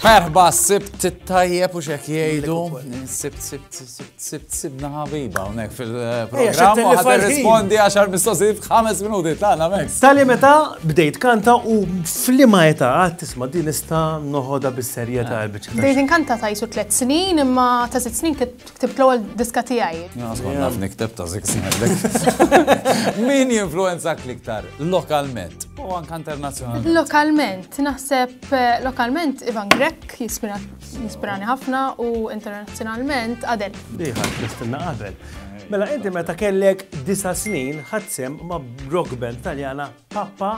Merħba, sibt t-tajjeb u xek jgħidu. Sibt, sibt, sibt, sibt, sibna ħabiba unek fil-program. U għad rispondi għaxar mistoqsijiet f'ħames minuti, tana mek. Sali meta bdejt kanta u flima eta għad tisma din nista noħoda bis-serjeta Bdejt inkanta ta' jisu tliet snin, imma ta' sitt snin ktibt l-ewwel diska tiegħi. Jien kont naf nikteb ta' sitt snin. Min jinfluwenzak l-iktar lokalment u anke internazzjonalment? Lokalment, naħseb lokalment Ivan Grech jispirani ħafna u internazzjonalment Adel. Di ħadd tistinna qabel. Mela inti meta kellek disa' snin ħadt sehem ma' rock band Taljana Papa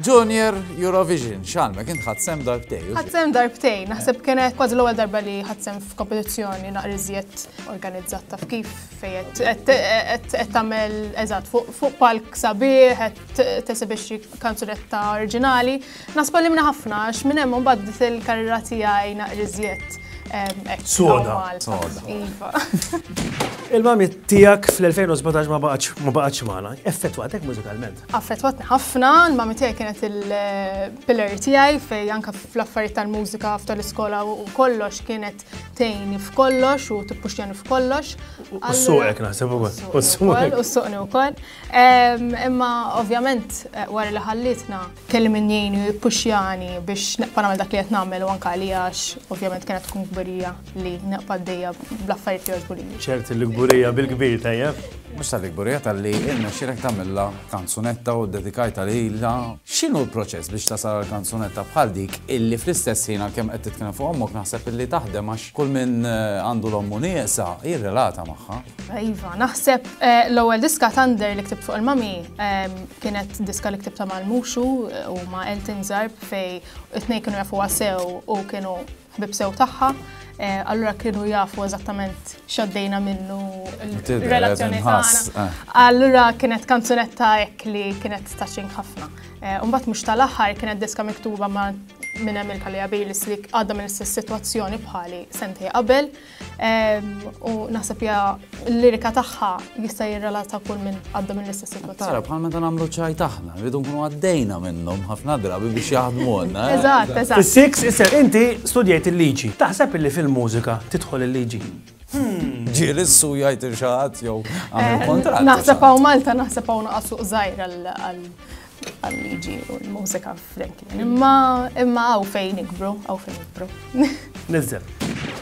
Junior Eurovision, x'għalmek int ħadd sem darbtejn. Ħadd sem darbtejn, naħseb kienet kważi l-ewwel darba li ħadd sem f'kompetizzjoni naqri żjed organizzat taf kif fejn qed tagħmel eżatt fuq palk sabiħ qed tesibixxi kanzunetta oriġinali. Nasba li minna ħafna għax minn hemm imbagħad il-karriera tiegħi naqri żjed Soda. Iva. Il-mami tijak fl-2017 ma baqax maħna, effettwatek mużikalment. Affettwatni ħafna, l-mami tiegħi kienet il-pillar tiegħi fej anka fl-affarijiet tal-mużika f'tal iskola u kollox kienet tejni f'kollox u tippuxjani f'kollox. U suqek naħseb ukoll. U suqek. U suqni wkoll. Imma ovvjament eh, wara li ħallitna kelli min jgħini u jippuxjani biex naqpa' nagħmel dak li qed nagħmel u anka li għax ovvjament kienet tkun kbirija. li naqpa d-dejja bl-affarijiet li jogħġbu lili. ċert il-gburija bil-kbir tajjeb. Mhux tal-gburija tal-li irnexxilek tagħmilha kanzunetta u ddedikajtha lilha. X'inhu l-proċess biex tasal għal kanzunetta bħal dik illi fl-istess ħin għalkemm qed titkellem fuq ommok naħseb illi taħdem għax kull min għandu l-ommu nieqsa jirrelata magħha. Iva, naħseb l-ewwel diska Thunder li ktibt fuq il-mami kienet diska li ktibta mal-Muxu u ma' Elton Zarb fej it-tnejn kienu jafuha sew u kienu ħbieb sew tagħha, allura kienu jafu eżattament x'għaddejna minnu l-relazzjoni tagħna. Allura kienet kanzunetta hekk li kienet taċin ħafna. Mbagħad mhux tal-aħħar kienet diska miktuba ma' minn Emil Kaliabilis li għadda minn istess sitwazzjoni bħali sentej qabel. U naħseb ja l-lirika tagħha jista' jirrelata kull minn għadda minn l-istess situazzjoni. Tara, bħal meta nagħmlu ċaj taħna, rridu nkunu għaddejna minnhom ħafna drabi biex jaħdmu għandna. Eh? Eżatt, eżatt. Is-six, isser inti studjajt il-liġi. Taħseb illi fil-mużika tidħol il-liġi? Hmm. Ġieli s-su jgħid il-xaħat jew għamil eh, kontrat. Naħseb hawn Malta, naħseb hawn naqas suq żgħir għal għal-liġi u l-mużika f'dek. Imma imma għaw fejn ikbru, għaw fejn ikbru. Nizzem.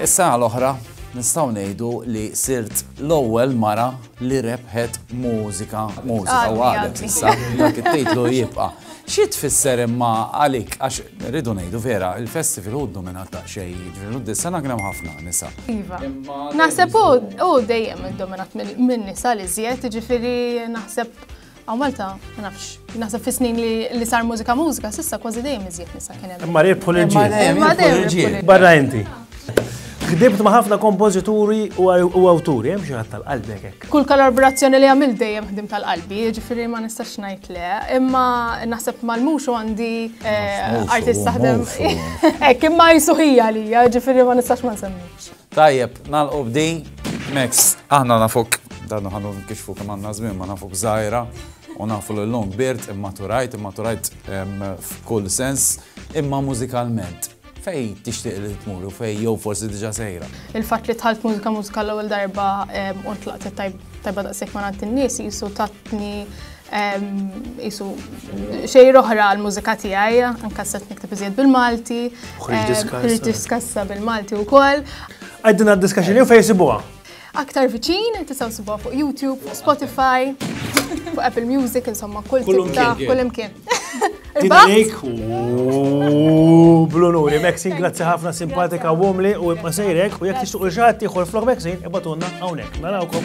Issa għal-oħra, nistaw nejdu li sirt l-ewwel mara li rebħet mużika, mużika u għadet issa, dak it-titlu jibqa. Xi tfisser imma għalik, għax rridu nejdu vera, il-festival hu dominata xej, ġvelu d-dissana għram ħafna nisa. Iva. Naħseb u dejjem dominat minn nisa li zjed, ġifiri naħseb Għaw Malta, ma nafx, naħseb fi snin li sar mużika mużika, sissa kważi dejjem iżjed nisa kien hemm. Imma rebħu l-ġiel. Barra inti. Kdibt ma' ħafna kompożituri u awturi, hemm xi ħadd tal-qalbi hekk. Kull kollaborazzjoni li għamil dejjem ħdim tal-qalbi, ġifieri ma nistax ngħid le, imma naħseb mal-mhux għandi eh, artist taħdem. Hekk imma jsuħija li, ġifieri ma nistax ma nsemmix. Tajjeb, nalqu b'di. Max, aħna nafuk, dan ħanu kixfu kemm għandna żmien ma nafuk żgħira u nafu l-lum birt imma turajt, imma turajt f'kull sens, imma mużikalment fej tixtieq li tmur u fej jew forsi diġa sejra. Il-fatt li tħalt mużika mużika l-ewwel darba u tlaqt tajba daqshekk ma nagħti n-nies jisu tatni Isu xejra oħra għal-mużika tiegħi, anke s nikteb iżjed bil-Malti. Ħriġ diskassa bil-Malti wkoll. Għaddina d-diskaxin jew fejn sibuha? Aktar viċin, tisaw sibuha fuq YouTube, Spotify, fuq Apple Music, insomma, kull tibta, kull imkien. Dinalik u blunuri. Maxine, grazzi ħafna simpatika u għomli u ibqa sejrek u jek tixtuq il-ġat tiħor flok Maxine, ibatunna għawnek. Narawkom.